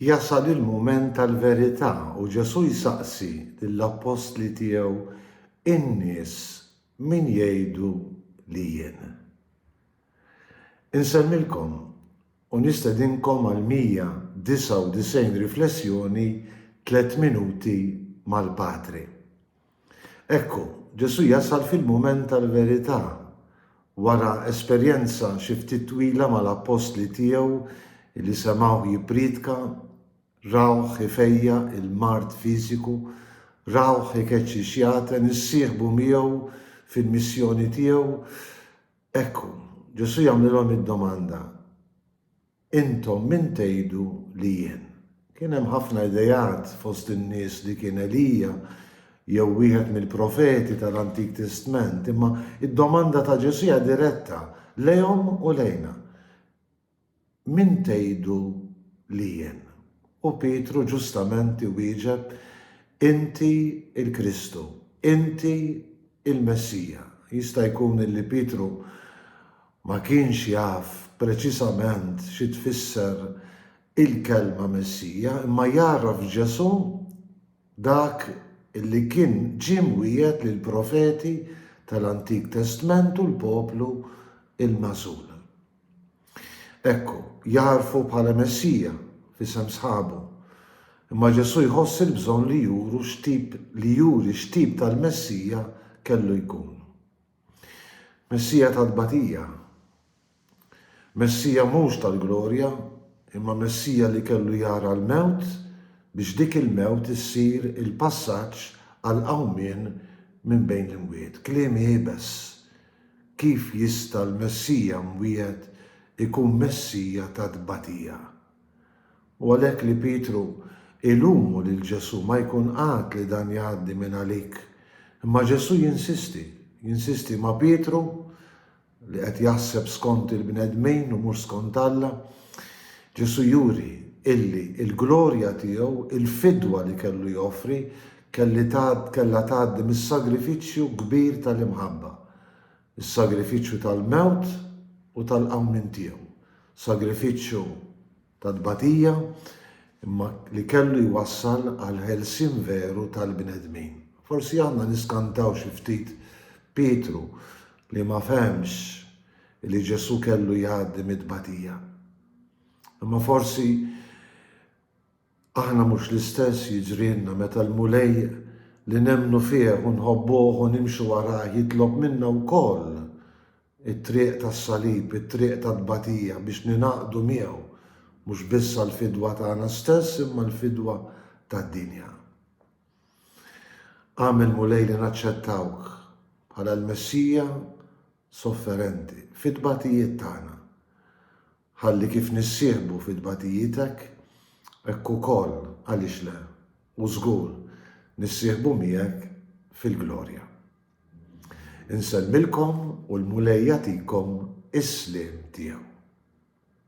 Jasal il-mument tal-verità u Ġesù jsaqsi lill-appostli tiegħu, In-nies min jgħidu li jien? Insemmilkom u nistedinkom għal 199 riflessjoni Tliet Minuti mal-Patri. Ekku, Ġesù jasal fil-mument tal-verità. Wara esperjenza xi ftit twila mal-appostli tiegħu li semgħuh jippriedka, rawh ifejjaq il-mard fiżiku, rawh ikeċċi x-xjaten, issieħbu miegħu fil-missjoni tiegħu, ekku, Ġesù jagħmlilhom id-domanda, Intom min tgħidu li jien? Kien hemm ħafna ideat fost in-nies li kien Elija jew wieħed mill-profeti tal-Antik Testment, imma d-domanda ta' Ġesù hija diretta lejhom u lejna. Min tgħidu li jien? U Pietru ġustament iwieġeb, Inti l-Kristu, inti l-Messija. Jista' jkun li Pietru Ma kienx jaf preċiżament xi tfisser il-kelma Messija, imma jagħraf f'Ġesù dak li kien ġie mwiegħed lill-profeti tal-Antik Testment u l-poplu l-magħżul. Hekk hu, jagħrfu bħala Messija f'isem sħabu. Imma Ġesù jħoss il-bżonn li juru x'tip li juri x'tip tal-Messija kellu jkun. Messija tat-tbatija. Messija mhux tal-glorja, imma Messija li kellu jara l-mewt biex dik il-mewt issir il-passaġġ għall-qawmien minn bejn l-imwiet. Kliem iebes! Kif jista' l-Messija mwiegħed ikun Messija tat-tbatija? U għalhekk li Pietru ilumu lil Ġesù ma jkun qagħad li dan jgħaddi minn għalik. Imma Ġesù jinsisti, jinsisti ma' Pietru li qed jaħseb skont il-bnedmin u mhux skont Alla. Ġesù juri illi l-glorja tiegħu, il-fidwa li kellu joffri, kellha tgħaddi mis-sagrifiċċju kbir tal-imħabba. Is-sagrifiċċju tal-mewt u tal-qawmien tiegħu, sagrifiċċju ta' tbatija, imma li kellu jwassal għall-ħelsien veru tal-bnedmin. Forsi għandna niskantaw xi ftit Pietru li ma fehemx li Ġesù kellu jgħaddi mit-tbatija. Imma forsi Aħna mhux l-istess jiġrilna meta l-Mulej li nemmnu fih u nħobbuh u nimxu warajh jitlob minna wkoll it-triq tas-salib, it-triq tat-tbatija biex ningħaqdu miegħu, mhux biss għall-fidwa tagħna stess imma l-fidwa tad-dinja. Agħmel, Mulej, li naċċettawk bħala l-Messija sofferenti fit-tbatijiet tagħna. Ħalli kif nissieħbu fit-tbatijitek, hekk ukoll, għaliex le, u żgur, nissieħbu miegħek fil-glorja. Insellmilkom u l-Mulej jagħtikom is-sliem tiegħu.